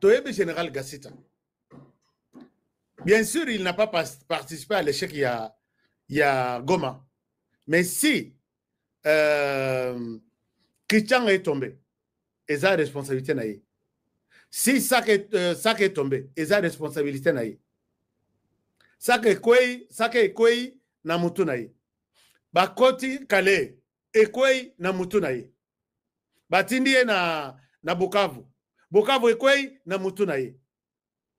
toyebi général gasita bien sûr il n'a pas participé à l'échec ya ya goma mais si euh, kichanga est tombé eza responsabilité na ye si saka est, euh, saka est tombé eza responsabilité na ye saka ekwei saka ekwei na motu na ye bakoti kale ekwei na motu na ye batindi ye na, na bukavu bukavu ekwei na mutu na ye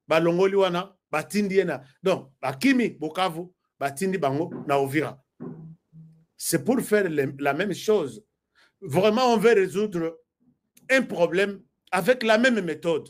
balongoli wana batindi ye na donc bakimi bukavu batindi bango na ovira c'est pour faire le, la même chose vraiment on veut résoudre un problème avec la même méthode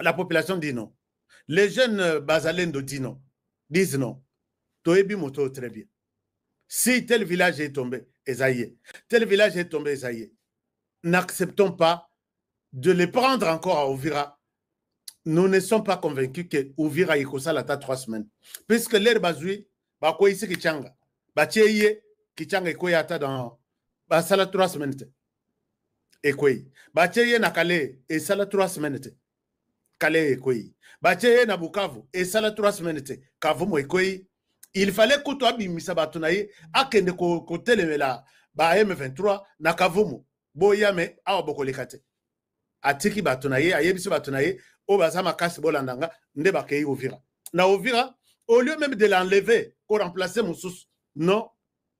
la population dit non les jeunes euh, bazalendo dit non disent non toyebi moto très bien si tel village est tombé eza ye tel village est tombé eza ye n'acceptons pas de les prendre encore à Ovira nous ne sommes pas convaincus que Ovira ekosala ata trois semaines puisque lere bazwi bakweyisi kichanga batie ye kichanga ekweya ata dans basala trois semaines te ekwei batie ye na kale esala 3 semaine te kale ekwei batie ye na bukavu esala 3 semaine te kavumu ekwei il fallait kutu abimisa bato na ye akende kotelemela ba m23 na kavumu boya me awa bokoleka te atiki bato na ye ayebisi bato na ye oyo baza makasi bolanda nga nde bakei ovira na ovira au lieu meme de l'enlever koremplace mosusu non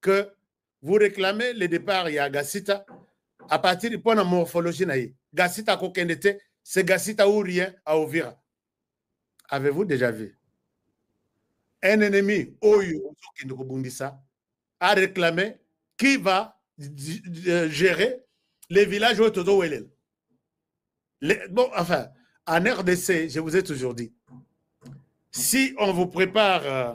que vous réclamez le départ ya gasita à partir mpo na morphologie na ye gasita akokende te c'est gasita ou rien à ovira avez-vous déjà vu un ennemi oyo ozokende kobundisa a réclamer qui va euh, gérer les villages oyo tozowelela bon enfin en rdc je vous ai toujours dit si on vous prépare euh,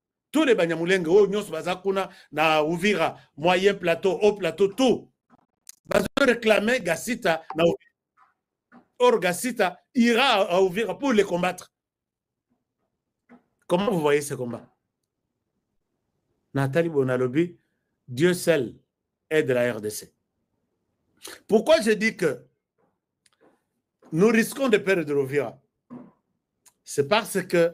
tous les banyamulenge oyo nyonso baza kuna na uvira moyen plateau haut plateau tout bazo réclamer gasita na uvira or gasita ira à uvira pour les combattre comment vous voyez ce combat natali boye nalobi dieu seul aide la rdc pourquoi je dis que nous risquons de perdre uvira c'est parce que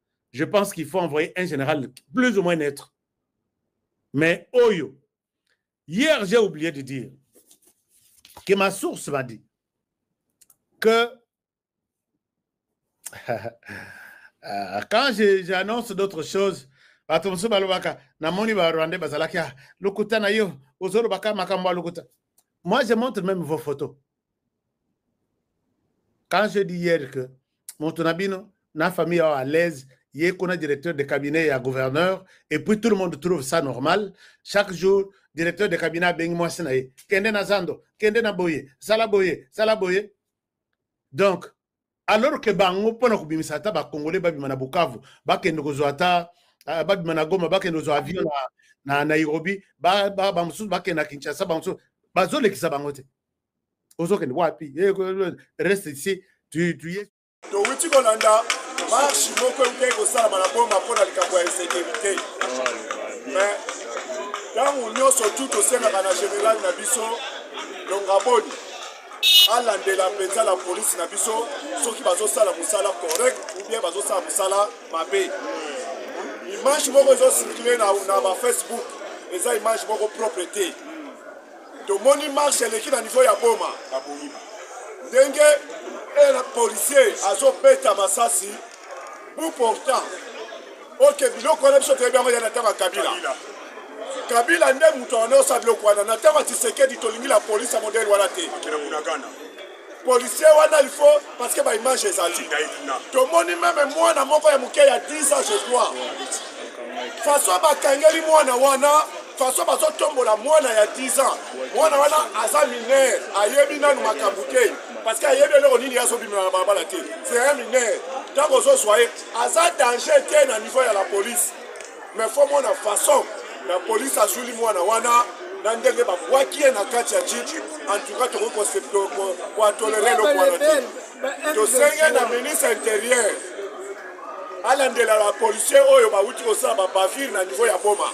je pense qu'il faut envoyer un général plus ou moins neutre mais oyo hier j'ai oublié de dire que ma source m'a dit que euh, quand j'annonce d'autres choses bato mosusu balobaka namoni barwandais bazalaki ah, lokuta na yo ozolobaka makambo ya lokuta moi je montre même vos photos quand je dis hier que moto na bino na famille yao à l'aise ye kuna directeur de cabinet ya gouverneur et puis tout le monde trouve ça normal chaque jour directeur de cabinet abengi mwasi na ye kende na zando kende na boye sala boye sala boye donc alors que bango mpo na kobimisa ata bakongole babima na bukavu bakende kozwa ata ah, babima na goma bakende kozwa avion na, na nairobi bamosusu ba, ba bakende na kinshasa bamosusu bazolekisa bango te ozokende wapi eh, reste ici tu, tu ye towuti kolanda marche moko eukei kosalama na boma mpo na likambo ya insécurité mais ntango nyonso tu tosengaka na général na biso longaboni alandela mpenza la polisi na biso soki bazosala mosala correct ou bien bazosala mosala mabe image moko ezocircule na, na bafacebook eza image moko propre te tomoni marche eleki na niveau ya boma ndenge policier azobeta masasi Pour pourtant, ok, biloko wana biso toyebi yango ya na ntango ya Kabila. Kabila nde moto anaosa biloko wana na ntango ya Tshisekedi tolingi la polisi ya modele wana te. policier wana il faut parce que baimage ezali tomoni meme mwana moko ya moke ya 10 ans je crois façon bakangeli mwana wana façon bazotombola mwana ya 10 ans mwana wana aza mineur ayebi nanu makambo te parce que ayebi eloko nini azobimela na balabala te c'est un mineur ntango ozozwa ye aza danger te na niveau ya la police mais fo mona façon la police azwili mwana wana na ndenge babwaki ye na kati ya jiji en tout cas tokoki koatolere eloko wana te tosenge na ministre intérieur alandela bapolisier oyo bawuti kosala babavire na niveau ya boma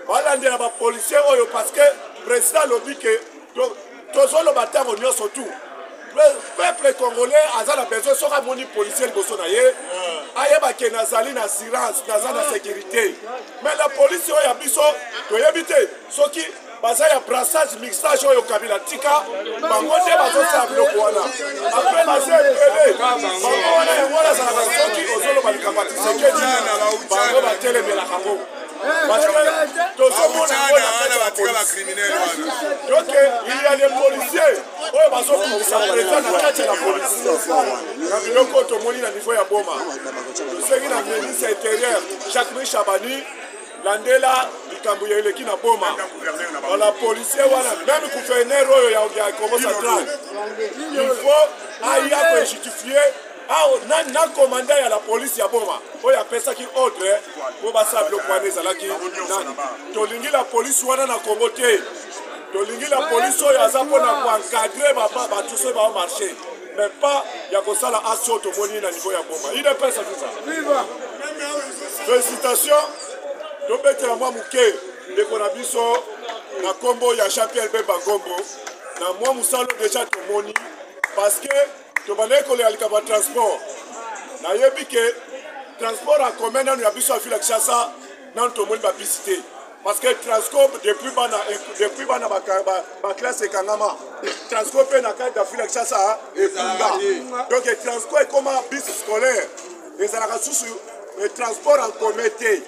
balandela bapolisier oyo parce que président alobi ke tozoloba ntango nyonso tu peuple congolais aza na besoin soki amoni policier liboso na ye ayeba ke nazali na assurance naza na sécurité mais la police oyo ya biso toyebi te soki baza ya brassage mixage oyo kabila tika bango nde bazosala biloko wana apres baza ebele bango wana yango wana azalaka soki ozoloba likambo ya tisekedi bango batelemelaka ngo Parce que tozomona wana batika ba criminel wana. Donc il y a des policiers oyo bazobimisa president na kati ya la police na biloko oyo tomoni na niveau ya Boma. Tosengi na ministre intérieur Jacques Michel Abani landela likambo ya eleki na boma wala policier wana meme gouverneur oyo ya kongo central il faut aya kojustifier Awa nani na komanda ya la police ya Boma oyo apesaki ordre mpo basala biloko wana ezalaki nani? Tolingi la police wana na Congo te. Tolingi la police oyo aza mpo na koencadre bato soki bao marche mais pas ya kosala aso tomoni na niveau ya Boma. Udps azuza. Félicitations. Tobetela mwa moke ndeko na biso na nkombo ya Jean-Pierre Bemba Ngombo na mwa mosala deja tomoni parce que tobandaki kolekalika batransport nayebi ke transport en commun nanu ya biso ya ville ya kinshasa nanu tomoni babisi te parce que transco depuis bana depuis bana baklasse ekangama transco mpe na kati ya ville ya kinshasa ebunga donc transco ekoma bis scolaire ezalaka susu transport en commun te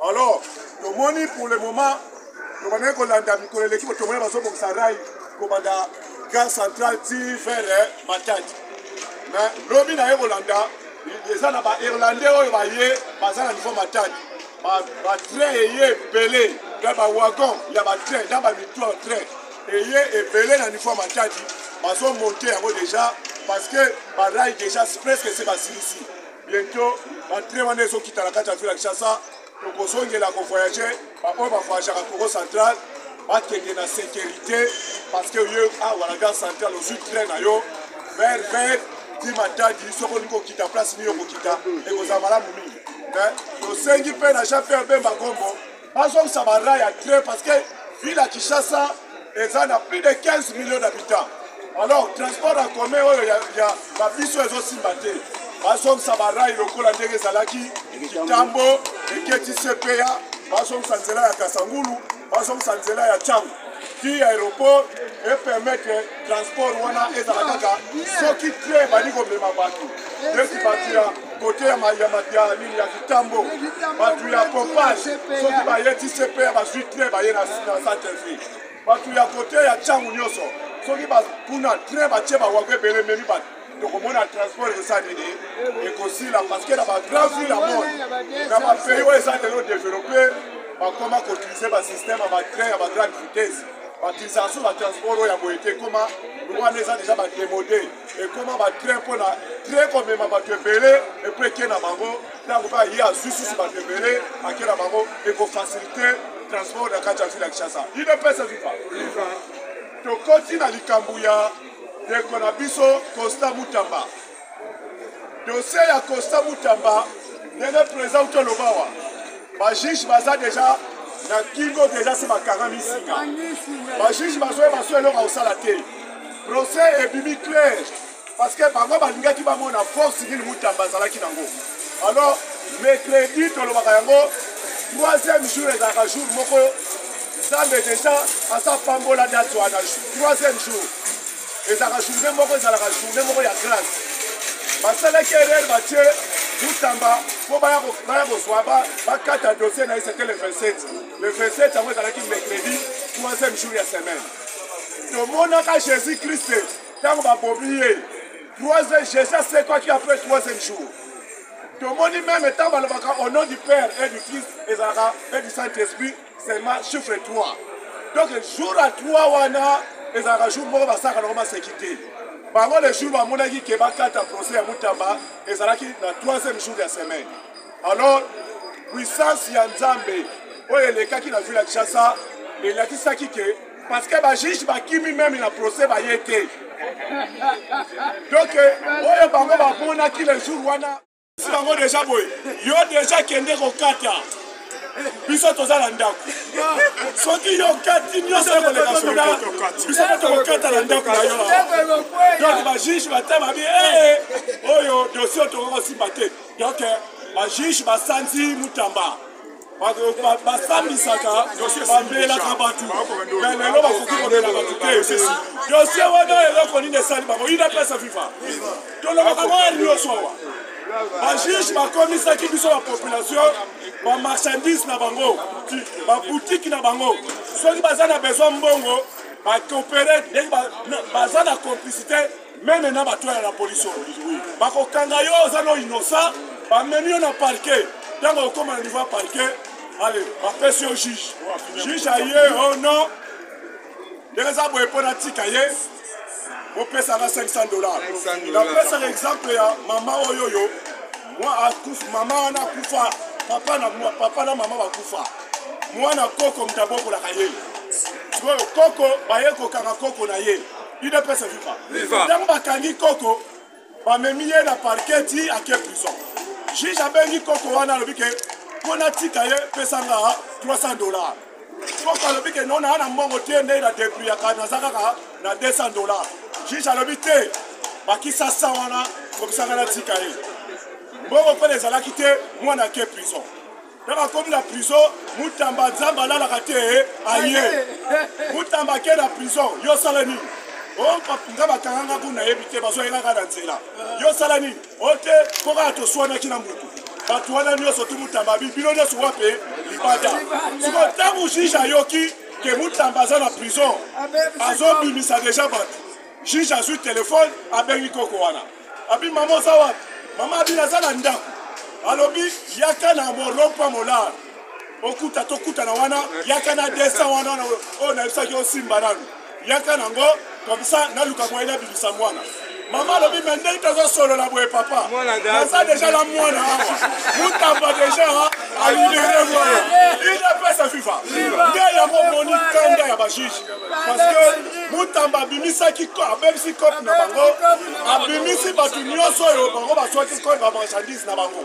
alors tomoni pour le moment tobandaki kolanda mikolo eleki botomona bazobongisa rai kobanda gare central ti vers eh, matadi me lobi na ye kolanda eza na bairlandais oyo baye baza na niveau matadi batrain eye ebele na bawagon ya batrain na bamitoire train eye ebele na niveau matadi bazomonte yango déjà parce que barai déjà presque se basilisi bientôt batrain wana ezokita na kati ya ville ya kinshasa tokozongela kovoyage baoyo bavoyageaka congo central bakende na sécurité parce que ye awa na gare central ozwi train na yo vert vert ti matadi soki olingi kokita place nini okokita ekozala malamu mingi tosengi mpe na jean pierre bemba gombo bazongisa bara ya train parce que ville ya kinshasa eza na plus de 15 millions d'habitants alors transport en commun oyo ya, ya babiso ezosimba te bazongisa barai lokola ndenge ezalaki kitambo eketi cpa bazongisa nzela ya kasangulu bazongisa nzela ya cango ti aéroport epermettre transport wana ezala kaka soki tre ebandi komema bato neti bato ya kote ya nini ya kitambo bato ya pompage soki baye tcp ya bazwi tre baye na santelvi bato ya kote ya ntango nyonso soki kuna tre batye bawako ebele ememi bato tokomona transport ekosa nini ekosila parceke na bagrand ville ya monde na bapays oyo eza lelo développe bakoma koutilize basystème ya batrain ya bagrande vitesse batisation na transport oyo ya boye te ekoma wana eza deja bademode ekoma batrain mpo na train komema bato ebele epo eke na bango ntango mpe aye azwi susu bato ebele ake na bango ekofasilite transport na kati ya ville ya kinshasa idps ezufa tokoti na likambo ya ndeko na biso costa mutamba dossier ya costa mutamba ndenge président uto aloba wa bajuge baza deja na kingo deja se bakangami nsika bajuge bazoye baso eloko ya kosala te procès ebimi clair parce que bango balingaki bamona force nini mutamba azalaki nango alors mercredi tolobaka yango troisième jour ezalaka jour moko nzambe deja asapambola date wana troisième jour ezalaka journée moko ezalaka journée moko ya grâce basalaki erreur batie mutamba mpo baya kozwa bakata dossier na ye c'était le 27 le 27 yango ezalaki mercredi troisième jour ya semaine tomonaka jésus christ ntango babomi ye troisième jésus asekwaki après troisième jour tomoni meme ntango balobaka au nom du père et du fils ezalaka et du saint esprit seulement chiffre 3 donc jour ya 3 wana ezalaka jour moko basaka nango maseki te bango le jour bamonaki ke bakata procès ya mutamba ezalaki na 3e jour ya semaine alors puissance ya nzambe oyo elekaki na ville ya kinshasa elakisaki ke parce que bajuge bakimi meme na procès baye te donc oyo bango bamonaki le jour wana si bango deja boye yo deja kende kokata biso toza na ndako soki yo okati nyonso ekoleka soda biso mpe tokokata na ndako na yo donc bajuge bata babi ee oyo dosie tokokosimba te donc bajuge basanzi mutamba basambisaka bamelaka bato me lelo bakoki komela bato te dosie wana eloko nini esali bango inapesa viva tolobaka moya nyonso awa bajuge bakomisaki biso bapopulation bamarchandise na bango babutiki na bango soki baza na besoin mbongo bakopere ndenge baza na complicité meme na bato ya la polisi oyo bakokanga yo oza no innocent bamemi yo na parke ntango okoma na niveau ya parke ale bapesi yo juge juge aye o oh non ndenge eza boye mpo natika ye opesaka 500 dollars napesaka exemple ya mama oyo oyo mwa akufa mama wana akufa papa na papa na mama bakufa mwana koko moto abokolaka ye sikoyo koko baye kokanga koko na ye udps viva Viva. ntango bakangi koko bamemi ye na parquet ti ake prison juge abengi koko wana alobi ke mpo natika ye pesanga 300 dollar koko alobi ke no naa na mbongo te nde na depriaka naza kaka na 200 dollar juge alobi te bakisa 100 wana kobisanga natika ye mbongo mpona ezalaki te mwana ake prison na bakomi na prison mutamba nzambe alalaka te eh, aye mutamba ake na prison yo osala nini nga bakanga nga kuna nayebi te bazoyengaka na nzela yo osala nini ote oh, mpo kaka toswanaki na motu bato wana nyonso tu mutamba bi bino nyonso wape eh, libanda siko ntango juge ayoki ke mutamba aza na prison azobimisa deja bato juge azwi telefone abengi koko wana abi mama oza wapi mama abi naza na ndako alobi yaka na morompa molar okuta tokutana wana yaka na 200 wana oyo oh, nayebisaki osimba nanu yaka nango komsa naluka moye nabimisa mwana mama alobi me ndenge tozosolola boye papa naza deja na mwana awa mutamba deja alibere mwana idepesa fifa nde yango moni kanda ya bajuge parce que mutamba abimisaki abebisi cope na bango babimisi bato nyonso oyo bango bazwaki koi bamarchandise na bango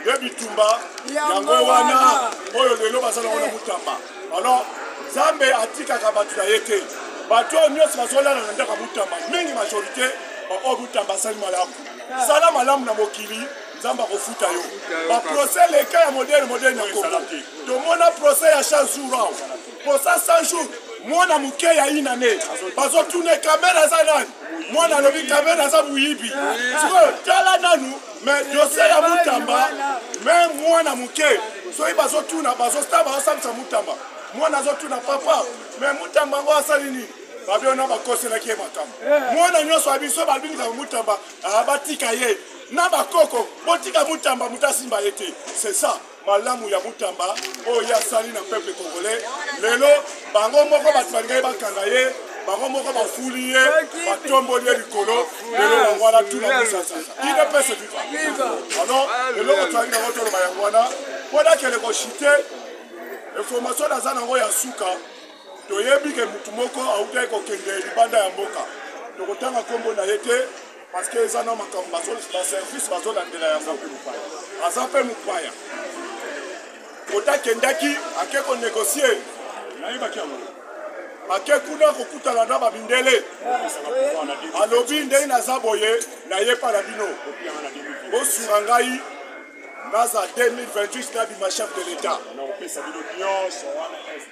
ye bitumba yango wana oyo lelo baza nango na mutamba alors nzambe atikaka bato na ye te bato oyo nyonso bazolala na ndako ya mutamba mingi majorité baoyo mutamba asali malamu sala malamu na mokili nzambe akofuta yo baprocès leka ya modele modele na kongo tomona procès ya chansura posa 100 jours mwana moke ya inane bazotune kamere aza nani mwana alobi kamere aza moyibi sikoyo tala nanu me dose ya mutamba me mwana moke soki bazotuna bazosta bazosambisa mutamba mwana azotuna papa me mutamba yango asali nini babe wana bakoselaki ye makambo eh. mwana nyonso ya biso balobi likambo mutamba ah, batika ye na bakoko botika mutamba moto asimba ye te c'est ça malamu ya mutamba oyo ye asali na peuple congolais lelo bango moko bato balingaki bakanga ye bango moko bafuli ye batomboli ye likolo lelo yango wana tuna mosasa ine pese viva alors eloko toyaki nango toloba yango wana mpo nakende koshite information naza nango ya suka toyebi ke motu moko autaki kokende libanda ya mboka tokotanga nkombo na ye te parce que eza na makambo baservice bazolandela yango aza mpe mopaya kota akendaki ake konegocie nayebaki yango ake kuna kokutana na bamindele alobi ndenge naza boye naye mpa na bino bosunga ngai naza 2028 nabima chef de l'etat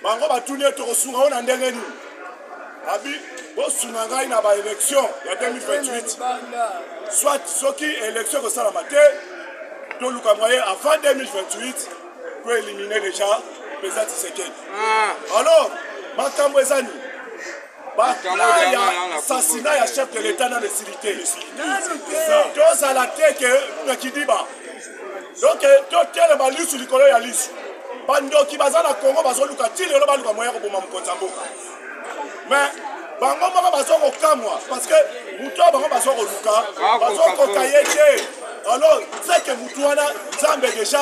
bango batuni ete okosunga yo na ndenge nini abi bosunga ngai na baélection ya 2028 soit soki élection ekosalama te toluka moye avant 2028 toelimine déjà mpenza tisekedi ah. alors makambo eza nini baplaya sasina ya chef de l'etat nano esili te tozala te ke na kidiba donk totelema lisu likolo ya lisu bandoki baza na congo bazoluka ti lelo baluka moya koboma mokonzi ya mboka mais bango moko baza kokamwa parce que moto oyo bango baza koluka bazokoka ye te alors seke motu wana nzambe deja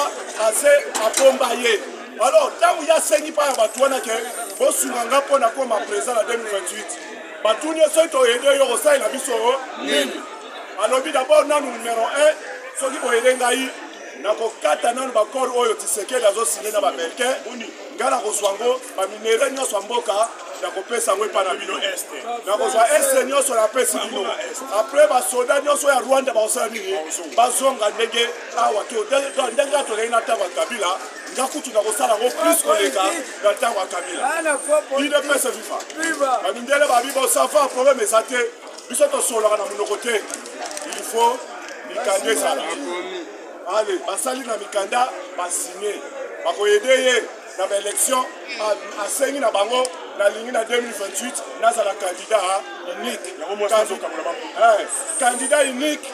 ase abomba ye Alors, ntango ye asengi mpa ya bato wana ke bosunga nga mpo na koma président na 2028 batuni ye soki toyede yo kosalela biso nini alobi dabord nanu numero 1 soki boyede ngai nakokata nanu bakore oyo tisekeli azosine na babelke ngai nakozwa ngo baminere nyonso ya mboka nakopesa yango epai na bino este nakozwa este nyonso napesi bino apres basoda nyonso ya rwanda bakosala nini bazonga ndenge awa ndenge atolei na ntango ya kabila nga kutu nakosala yango plus koleka na ntango ya kabila idps viva bamindele babi bosava probleme eza te biso tosololaka na monoko te il faut mikanda ezala ale basali na mikanda basigne bakoyede ye na baélection asengi na bango nalingi na 2028 nazala candidat unique candidat unique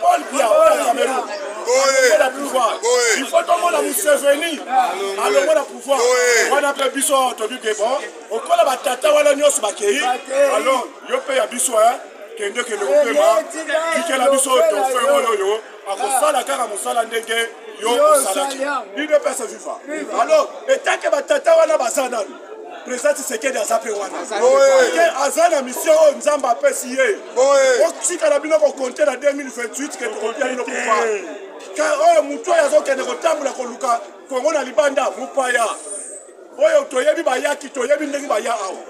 Paul Biya oyo ya Cameroun alongola pouvoir il faut tomona Museveni alongola pouvoir wana mpe biso tobi ke bon okola batata wana nyonso bakei alors yo mpe ya biso kende kende kopema tikela biso tofe oyo oyo akosala kaka mosala ndenge yo osalaki idps viva alors etake batata wana baza nani président tshisekedi aza mpe wana ke aza na mission oyo nzambe apesi ye otikala bino kokonte na 2028 ke tokopia bino kufa ka oyo motu oyo azokende kotambola koluka kongo na libanda mopaya oyo toyebi bayaki toyebi ndenge baya awa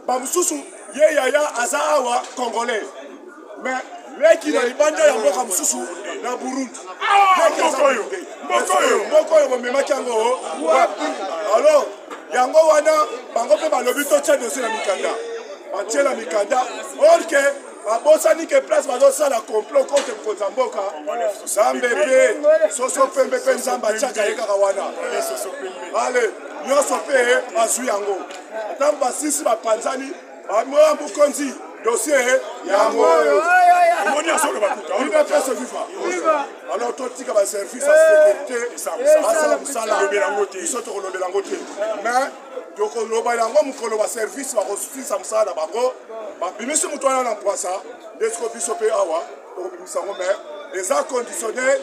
bamosusu ye yaya aza awa congolais mais leki na libanda ya mboka mosusu na burundi ah, mboka oyo bomemaki yango wapi alors yango wana bango mpe balobi totya dosie na mikanda batiela mikanda orke babosani ke place bazosala complot contre mokonzi ya mboka nzambe mpe soso pembe mpe nzambe atiaka ye kaka wana ale nyonso mpe bazwi yango ntango basisi bapanzani Amoa Mukonzi, dossier yango oyo omoni azoloba kuta udps viva alors totika baservice ya sécurité basala mosala biso tokolobela yango te mais tokoloba yango mokolo baservice bakosisa mosala na bango babimisi moto wana na mpwasa nde siko biso mpe awa tokobimisa yango mais eza conditionnel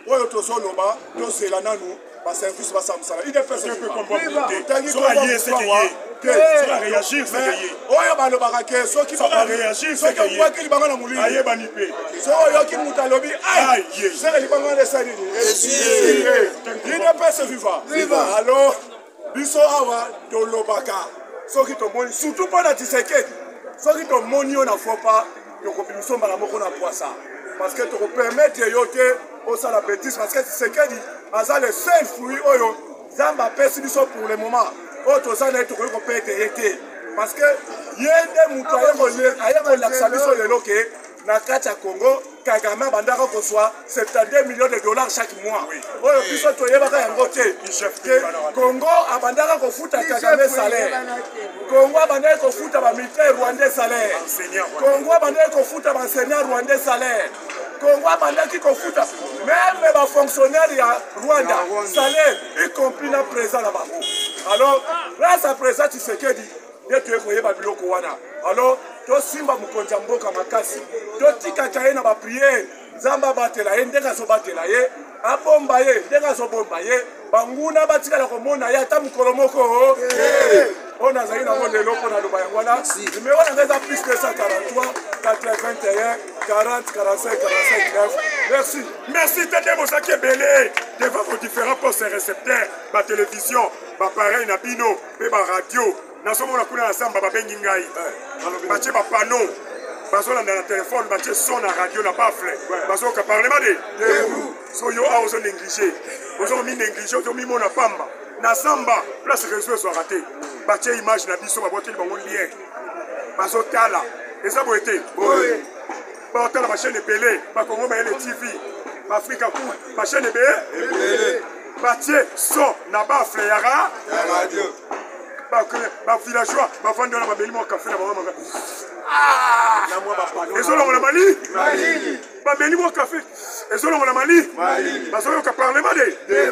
oyo tozoloba tozela nanu ba service ba sa musala udps oyo pe kombo te tangi ko ye se ye te so a réagir se ye oyo ba lobaka ke soki ba ba réagir se ke ye soki libanga na mulini aye ba ni pe so oyo ki muta lobi ay ye se ke libanga na sa ni udps viva viva alors biso awa tolobaka soki tomoni surtout mpo na tisekedi soki tomoni yo na fopa tokobimiso mbala moko na pwasa parce que tokopermettre yo te osala betise parce que tshisekedi aza le seul fruit oyo nzambe apesi biso pour le moment oyo toza na ye tokoki kopete ye te parce que ye nde moto aye kolakisa biso lelo ke na kati ya congo kagame abandaka kozwa 72 millions de dollars chaque mois oyo biso toyebaka yango te congo abandaka kofuta kagame salaire congo abandaki kofuta bamilitaire rwandais salaire congo abandaki kofuta baenseignant rwandais salaire congo abandaki kofuta meme bafonctionnaire ya rwanda salaire y compris na présent na bango alors grâce à présent tshisekedi nde toye koyeba biloko wana alors tosimba mokonzi ya mboka makasi totikaka ye na bapriere nzambe abatela ye ndenge azobatela ye abomba ye ndenge azobomba ye banguna batikala komona ye ata mokolo moko oyo nazali nango lelo mpo naloba yango wana numero yango eza plus 243 81 40 45 45 merci merci tete bozalaki ebele devant vos différents postes recepteurs batelevizio bapareil na bino mpe baradio nazomona kuna na zamba babengi ngai eh, batie bapano bazolanda na telefone batie son na radio na bafle bazoyoka parlement de so yo awa ozo néglige ozomi néglige ozomimona pamba na zamba place réseau ezwaka te batie image na biso babwakeli bango lien bazotala eza boye te batala bachaine ebele bakongo mayele tv baafrika ku bachaine ebele batie so na bafle ya radio bavillageois bafandi wana babeli mwa kafe na bango maka ah! ezolongola mali bameli mwa kafe ezolongola mali bazoyoka parlement de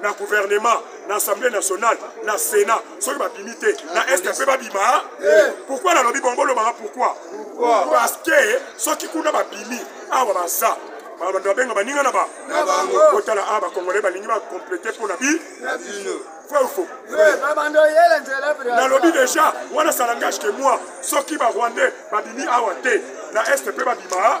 na gouvernement na assemblée nationale na sénat soki babimi te na est mpe babima pourkui nalobi bongo olobaka pourkui parce que soki kuna babimi awa baza bato babenga baninga na ba kotala a bakongole balingi bakomplete mpo na bi fofo nalobi deja wana salangage ke moi soki barwandais babimi awa te na est mpe babima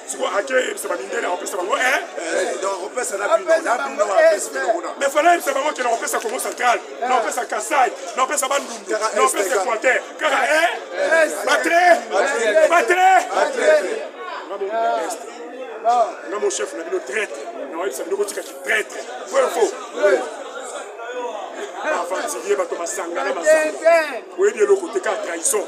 sikoyo ake yebisa bamindele akopesa bango eh? me fana yebisa bango ke nakopesa congo central nakopesa kasai nakopesa bandundu nakopesa equateur kaka batre batre nga mon chef na bino traite nakoyebisa bino kotika kitraite vrai faux bafantilie bato masanga na masanga oyebi eloko te kaka trahison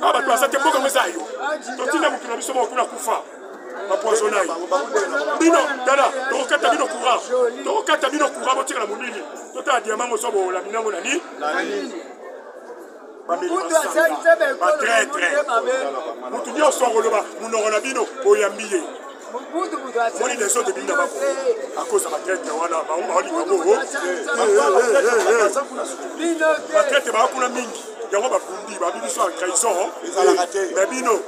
na bato baza te mboka yango eza ya yo totinda mokili na biso moko kuna kufa bapoisona ye bino tala tokokata bino courant tokokata bino courant botikala molili totala diama ngo sobo olamina ngo na nini batraitre motu nyonso akoloba monoko na bino boyambi ye moni les autres bina bako akoza batraite wana baolinga bongo batraite baa kuna mingi yango babundi babi biso ya trahison me bino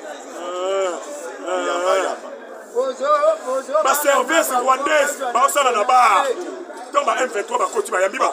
baservice rwandaise baosala na bar ntango ba m23 bakoti bayambi ba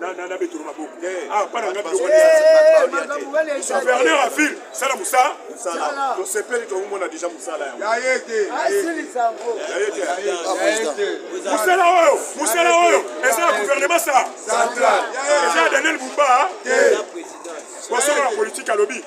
na betolo maboko awa pana nga biloko gouverneur avile sala mosala tosepeli tokomona deja mosala mosala oyo mosala oyo eza ya gouvernement sa eza ya daniel bumba bosolo na politike alobi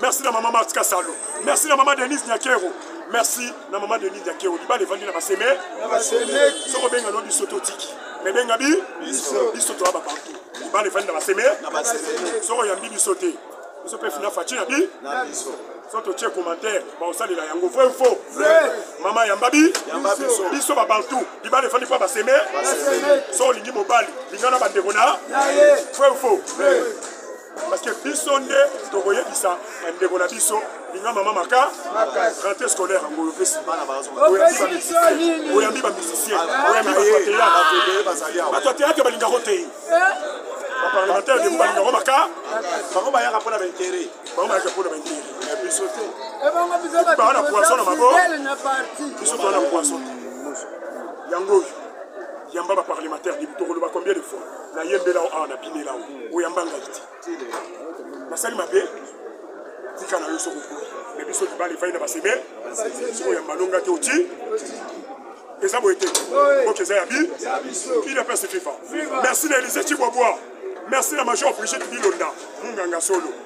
merci na mama marti kasalo merci na mama denise nyakero merci na mama denise nyakero libala evandi na baseme soko benga no biso totiki me benga bi biso toya bapartout libala evandi na baseme soko oyambi biso te biso mpe fina faci na bi so totie commentaire baosalela yango vrai ou faux mama yamba bi biso babantu libala efandi mpo baseme so olingi mobali lingana bandeko na vrai ou faux parce que biso nde tokoyebisa bandeko na biso linga mama maka rentrée scolaire yango oyo opesi bana oyambi bamusicien oyambi bato ya teyatre balingako te baparlementaire debo balingako maka bango bayaka mpo na baintere bango bayaka mpo na baintere ya biso te baa na poisson na mabo biso toa na poisson yango oyo yamba baparlementaire debo tokoloba combien de fois nayembela o awa na binela o oyamba ngai te nasali mabe tika na yo soki okoli me biso libala efai na baseme soki oyamba longa te oti eza boye te oki eza ya bi il apres se fifa merci na elise cibwabwa merci na major frigide bilonda munganga solo